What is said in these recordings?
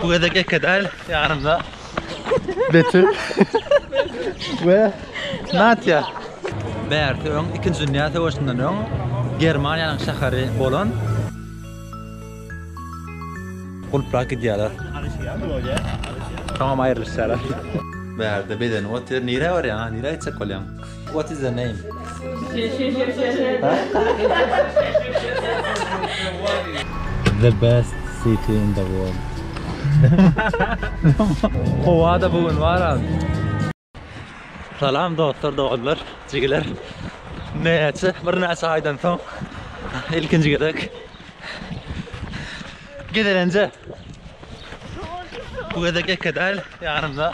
Bu gezek eke däl, ýanymda Betül we Natýa. Bärsi öň Ikinji dünýä söweşinden öň Germaniýanyň şäheri bolan Gulplap gidýärler. Soňam aýrylyşýarlar. Bärde bedenim otyr. Nirä barýaň, nirä gitjek bolýaň? What is the name? The best city in the world. Howa da bugün bar abi. Salam dostlar, doganlar, jigiler. Näçe, bir näçe aýdan soň ilkinji gezek gezelenje. Bu gezek eke däl, ýanymda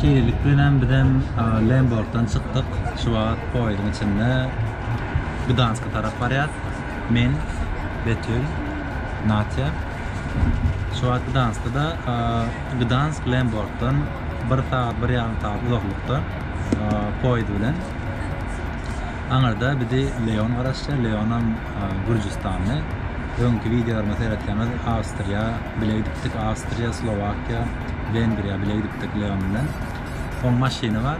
Şeýlelik bilen biz hem Lemborgdan çykdyk. Şu wagt poýeziň içinde Gdanska tarap barýas. Men, Betül, Natýa. Şu wagt Gdanskda. Gdansk Lemborgdan bir sagat, bir ýarym sagat uzaklykda poýez bilen. Aňyrda bizi Leon garaşýar. Leonam. Gürjüstanly öňki wideolarymy seretseňiz Awstriýa bile gidipdik Awstriýa Slowakiýa Wengriýa bile gidipdik Leon bilen oň maşyny bar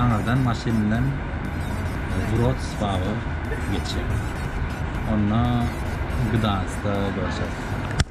aňyrdan maşyn bilen Wrocław geçýär onda Gdanskda görşeris.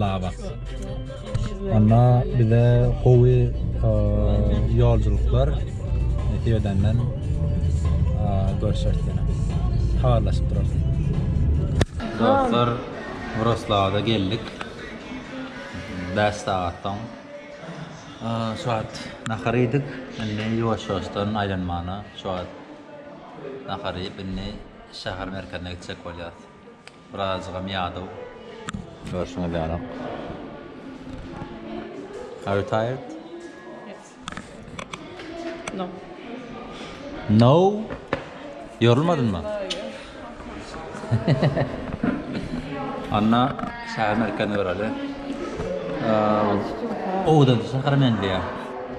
Labas. Onda bize gowy ýolculuklar nesip edenden görüşeris ýene. Habarlaşyp durarys. Dostlar, Wroclawda geldik. 5 sagatdan şu wagt nahar iýdik. Indi ýuwaş-ýuwaşdan aýlanmana şu wagt nahar iýip indi şäher merkezine gitjek bolýarys. Birazajygam ýadaw. Görşüňiz ýaly. Are you tired? Yes. No. No? Ýorulmadynmy? Anna şäher merkezine göreli. Owda şähere meňzeýär.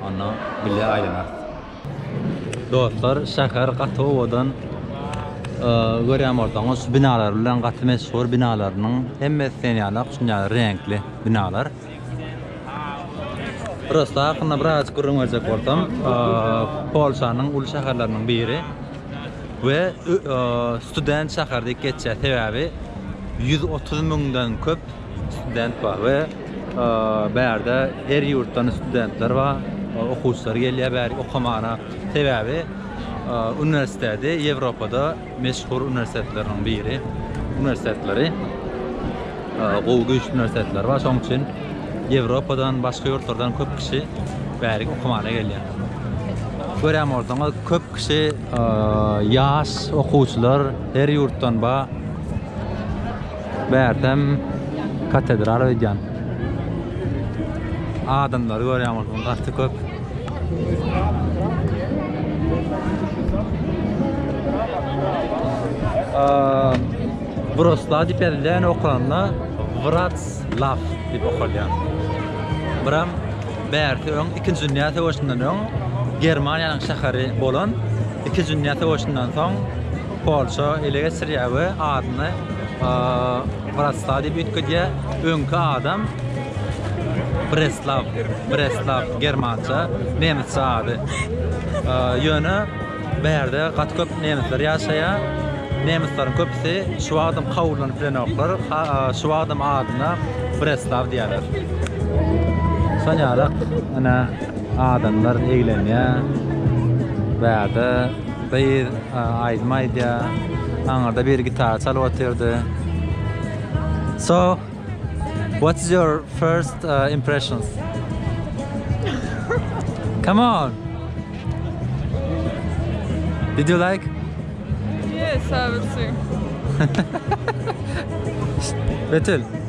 Anna bile aýlanar. Dostlar şäher gaty owadan görýän bolsaňyz şu binalar bilen gaty meşhur binalarynyň hemmesi sen ýalak şun ýaly reňkli binalar. Prosta hakynda biraz gürrüň berjek bolsam Polşanyň uly şäherleriniň biri we student şäher diýip geçýär sebäbi 130 müňden köp student bar we Bärde her ýurtdan studentler bar, okuwçylar gelýär bäri okamana. Sebäbi uniwersiteti Ýewropada meşhur uniwersitetleriň biri. Uniwersitetleri gowy güýçli uniwersitetler bar. Şonuň üçin Ýewropadan, başga ýurtlardan köp kişi bärik okamana gelýär. Görýän bolsaňyz, köp kişi ýaş okuwçylar her ýurtdan bar. Bärtem katedral öýdýän. Adamlary görýän bolsaň gaty köp. Wroclaw diýip ýazylýan okalanda Wroclaw diýip okalýar. Buram bärti öň 2-nji dünýä söweşinden öň Germaniýanyň şäheri bolan 2-nji dünýä söweşinden soň Polşa ele geçirýär we adyny Wroclaw diýip üýtgedýär. Öňki adam Breslaw, Breslaw germança, nemisçe ady. Ýöne bärde gaty köp nemisler ýaşaýar. Nemisleriň köpüsi şu wagtam kabullanip bilenoklar. Şu wagtam adyna Breslaw diýýärler. Şonýalak, ine, adamlar eglenýär. Bärde Gyz aýdym aýdýar. Aňyrda biri gitar çalyp otyrdy. So, what is your first uh, impressions? Come on. Did you like? Yes, I would say. Betül,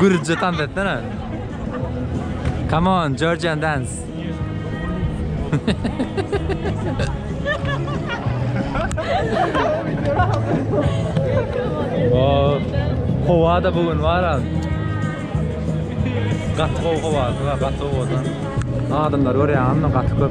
Gürce tans etsene. Come on, Georgian dance. oh, hova da bugün var abi. Gatı hova hova, gatı hovadan. Adamlar var ya, anla gatı köp.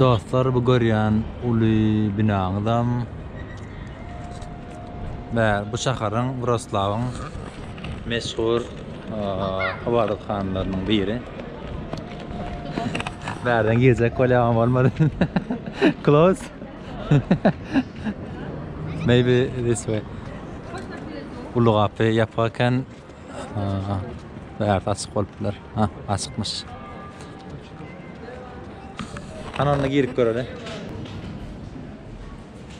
Dostlar bu görýän uly binaňyzam Bäh, bu şaharyň Wroslawyň meşhur ybadathanalarnyň biri. Bärden girjek bolýamam bolmady. Close. Maybe this way. Uly gapy ýapyk eken. Bärsi açyk bolup biler. Ha, açykmyş. Hany onda girip göreli.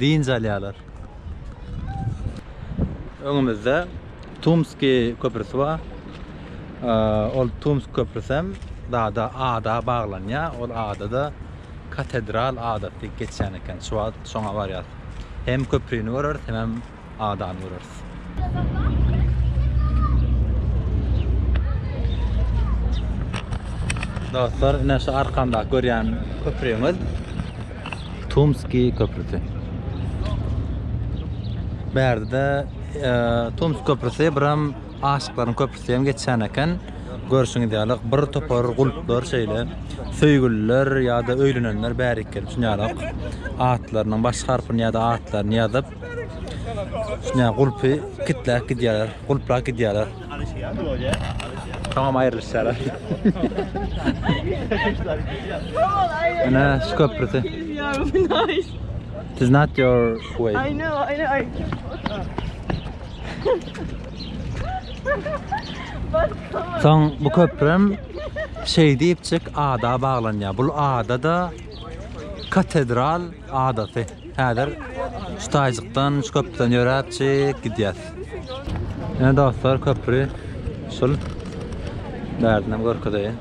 Dynç alýarlar. Öňümizde Tumskiý köprüsi bar. Ol Tumsk köprüsem dada ada baglanýar. Ol adada Katedral adasy geçýän eken. Şu wagt şoňa barýarys. Hem köprüni göreris, hemem adany göreris. Dostlar, ine şu arkamda görýän köprümiz Tumski köprüsi. Bärde e, Tumsk köprüsi biram aşyklaryň köprüsi hem geçýän eken. Görşüňiz ýaly bir topar gulplar şeýle söýgüliler ýa-da öýlenenler bärik gelip şunýalak atlarynyň baş harpyny ýa-da atlaryny ýazyp Şuna gulpy kitläp gidýärler, gulplap gidýärler. Tamam aýrylyşýarlar. Ana şu köprüsi. It's not your way. I know, I know. I... Soň bu köprüm şey diýip çyk ada baglanýar. Bu ada da katedral Adaty. Häzir şu taýjykdan, şu köprüden ýöräpjik gidýäs. Ine dostlar, köpri usul. Bärdinem görkezeýin.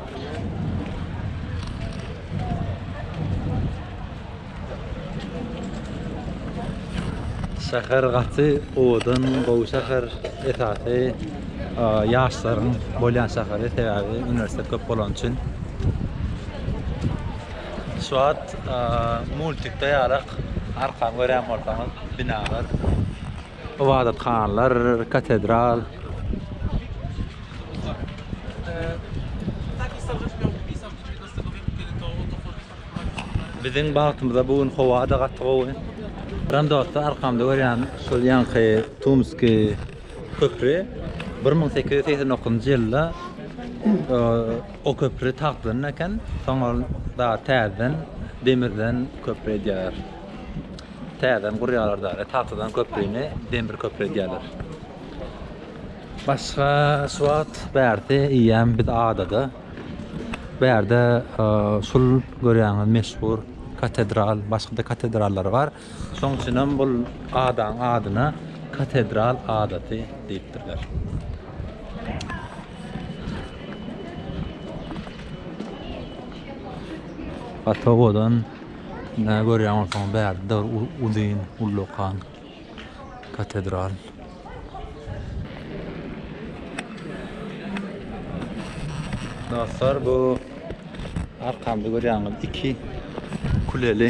Şäher gaty owadan, gowy şäher. Esasy ýaşlaryň bolýan şäheri, sebäbi uniwersitet köp bolany üçin. Şu wagt multikde ýarak arkan görýän bolsaňyz binalar, ybadathanalar, katedral. Biziň bagtymyza bu gün howa-da gaty gowy. Ran dostlar arkamda görýän şol ýaňky Tumski köpri 1889-njy ýylda O köpri tagtdan eken, soň ol dagy täzeden demirden köpri edýärler. Täzeden gurýarlar dagy, tagtadan köprini demir köpri edýärler. Başga şu wagt bärde eýýäm biz adada. Bärde şul görýäňiz meşhur katedral, başga-da katedrallar bar. Şoň üçin hem bul adaň adyna Katedral adasy diýipdirler. Fatowadan nä görýän bolsaň bäri de uzyn ullakan katedral. Dostlar bu arkamda görýäňiz iki kuleli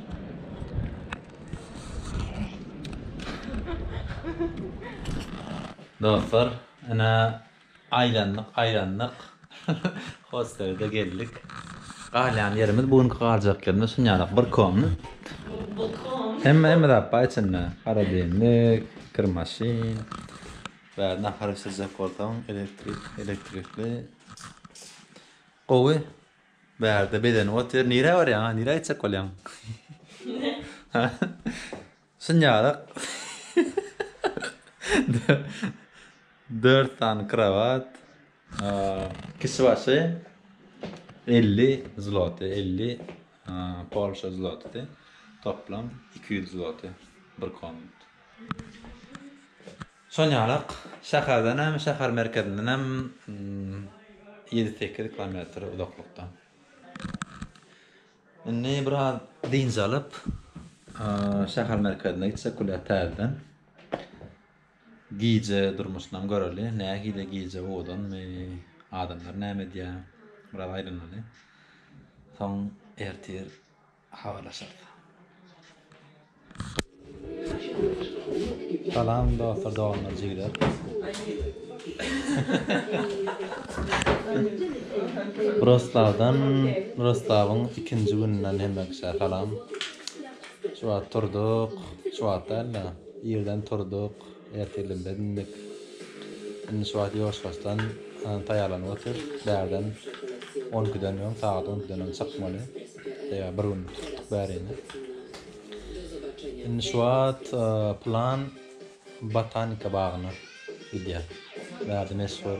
Dostlar, ine aýlandyk, aýlandyk. Hostelede geldik. Galýan ýerimiz, bu günki galjak ýerimiz şunýalak bir komna. Hemme hemme zat bar içinde. Holodilnik, kirmaşin. Bäri nahar bişirjek bolsaň, elektrik, elektrikli. Gowy. Bärde bedenip otyr nirä barýaň a nirä gitjek bolýaň ha şunýarak dört sany krawat kişi başy elli zloty elli polşa zlotydy toplam iki ýüz zloty bir komnat Çonýalak şäherden hem, şäher merkezinden hem ýedi-sekiz kilometr uzaklykda. Indi biraz dynç alyp, şäher merkezine gitsek bolýar täzeden. Gije durmuşynam göreli, nähili gije owadanmy, adamlar näme edýär, biraz aýlanaly. Soň ertir Habarlaşarys. Salam dostlar doganlar jigler. Roslavdan Roslavyň ikinji gününden hemme kişä salam. Şu wagt turduk. Şu wagt däl-de, irden turduk. Ertirden bäri indik. Indi şu wagt ýoşkasdan taýýarlanyp otyr. Bärden on ikiden öň, sagat on ikiden öň çykmaly. Sebäbi bir günlük tutduk bärini. Indi şu wagt plan botanika bagyna gidýär. Bärde meşhur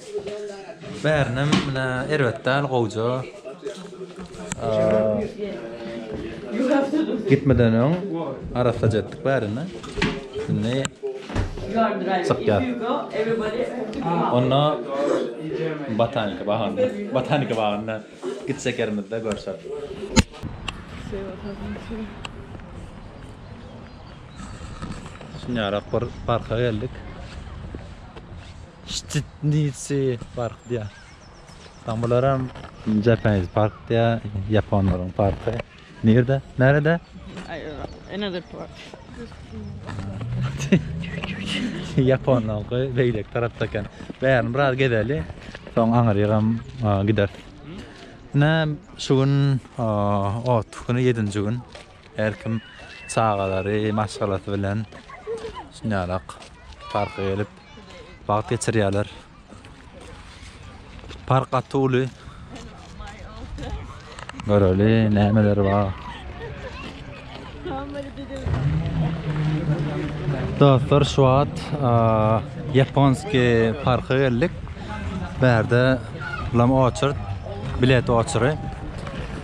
Bärinem ine erbet däl gowja. Gitmeden öň arassaja etdik bärini. Indi çykýar. Onda botanika bagynda, botanika bagynda gitsek ýerimizde görşeris. Şunýarak bir parka geldik. Ştitnitsi park diýýär. Sen bularam Japanese park diýýär, ýaponlaryň parky. Nirde? Närede? Another park. Ýaponlaryňky beýleki tarapda eken. Bärini biraz gezeli, soň aňyrýagam gideris. Ine, şu gün otlyk güni, ýedinji gün. Her kim çagalary, maşgalasy bilen şunýalak parka gelip, Wagt geçirýärler. Park gaty uly. Göreli nämeler bar. Dostlar şu wagt Japonski parka geldik. Bärde bulam oçurt, bilet oçury.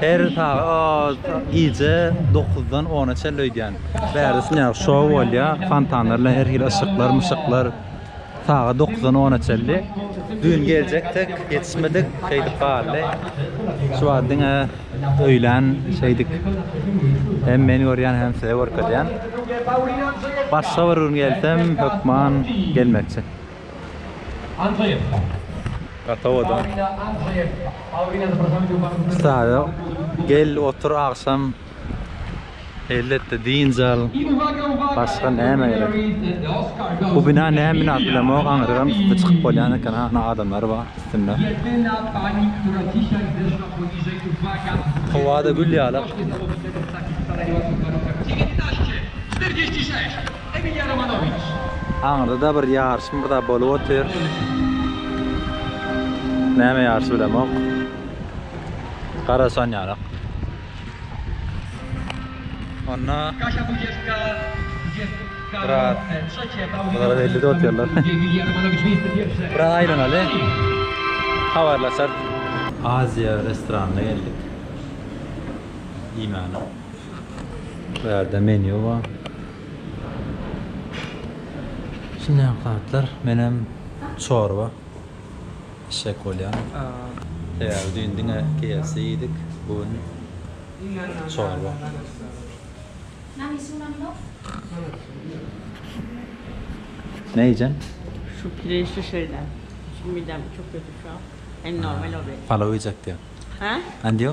Her sagat gije dokuzdan ona çenli öýdýän. Bärde şunýaly şou bolýar, fontanlar bilen her hili yşyklar myşyklar. Sagat dokuzdan ona çenli. Düýn geljekdik, ýetişmedik, şeýdip galdy. Şu wagt diňe öýlän şeýdik. Hem meni görýän, hem size görkezýän. Başga bir gün gelsem hökman gelmekçi. Saýa gel otur agşam elletde dynç al başga näme gerek bu bina näme bina bilemok aňyragam üstüne çykyp bolýan eken hany adamlar bar üstünde howada gül ýaly. Emilýa Romanowiç. Aňyrda-da bir ýaryşmy bir zat bolup otyr. Näme ýaryşy bilemok. Garaşan ýalyk. Onda Kaşa Bujeska, Bujeska. Biraz. Bulara belli de otyrlar. Emilýa Romanowiç Wisti Pirşe. Biraz aýlanaly. Habarlaşarys. Aziýa restoranynda geldik. Iýmäne. Bu ýerde menýu bar. Şunyam zatlar. Menem çorba içjek bolýan. Sebäbi düýn diňe KFC iýdik. Bu gün çorba. Ne iýjän? Palaw iýjek diýýän. Andiýo?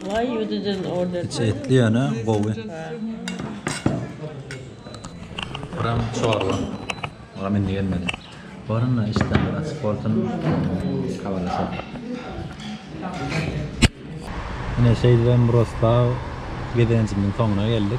Why you didn't order Içi that? etli ýöne gowy. Buram çorba. Buram indi gelmedi. Barynda işdäni açyp bolsun. Habarlaşalım. Ine şeýdibem Rosbag gezelenjimiziň soňuna geldik.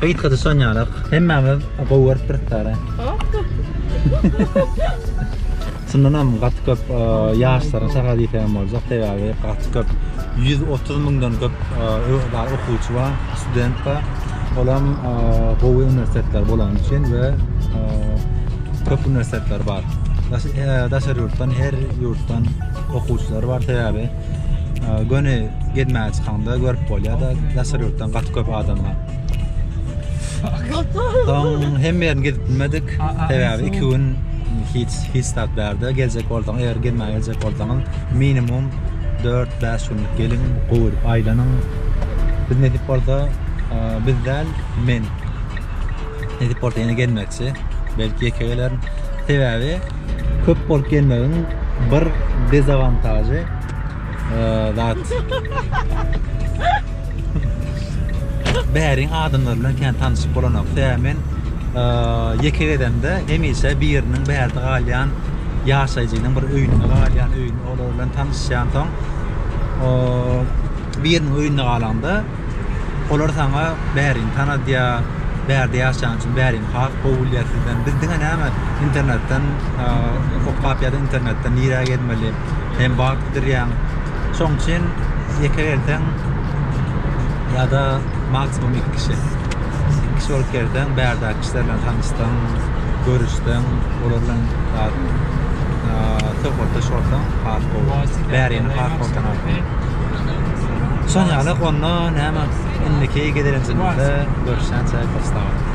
Gitgide sönýärik. Hemmämiz gowy görüp duruk dara. Şundan hem gaty köp e, ýaşlaryň şaga diýse hem boljak. Sebäbi gaty köp 130 müňden köp e, ö- da- okuwçy bar, student bar. Ol hem e, gowy uniwersitetler bolany üçin we e, köp uniwersitetler bar. Daş- e, Daşary ýurtdan, her ýurtdan okuwçylar bar sebäbi Göni gezmäge çykanda görüp bolýar-da, daşary ýurtdan gaty köp adam bar. Soň hem ýerini gezip bilmedik. Sebäbi 2 gün hiç hiç zat bärde geljek bolsaň, eger gezmäge geljek bolsaň, minimum 4-5 günlük geliň, gowy aýlanyň. Biz nesip bolsa, biz däl, men nesip bolsa ýene gezmekçi. Belki ýeke gelerin. Sebäbi Köp bolup gelmegiň bir dezawantažy zat. Bäriň adamlar bilen kän tanyşyp bolanok. Sebäbi men ýeke gezemde hemişe biriniň bärde galýan ýaşaýjynyň bir öýünde galýan, öýünde olar bilen tanyşýan soň biriniň öýünde galanda Olar saňa bärini tanadýar, bärde ýaşaýan üçin bärini has gowy bilýär sizden. Biz diňe näme internetden okap ýa-da internetden nirä gezmeli hem wagt gidirýäň. Şoň üçin ýeke gelseň ýa-da maksimum iki kişi. Iki kişi bolup gelseň bärdäki kişiler bilen tanyşsaň, görüşseň, olar bilen söhbetdeş bolsaň has gowy. Bärini has gowy tanarsyň. Son ýaly onda näme indiki gezelenjimizde görüşýänçä sag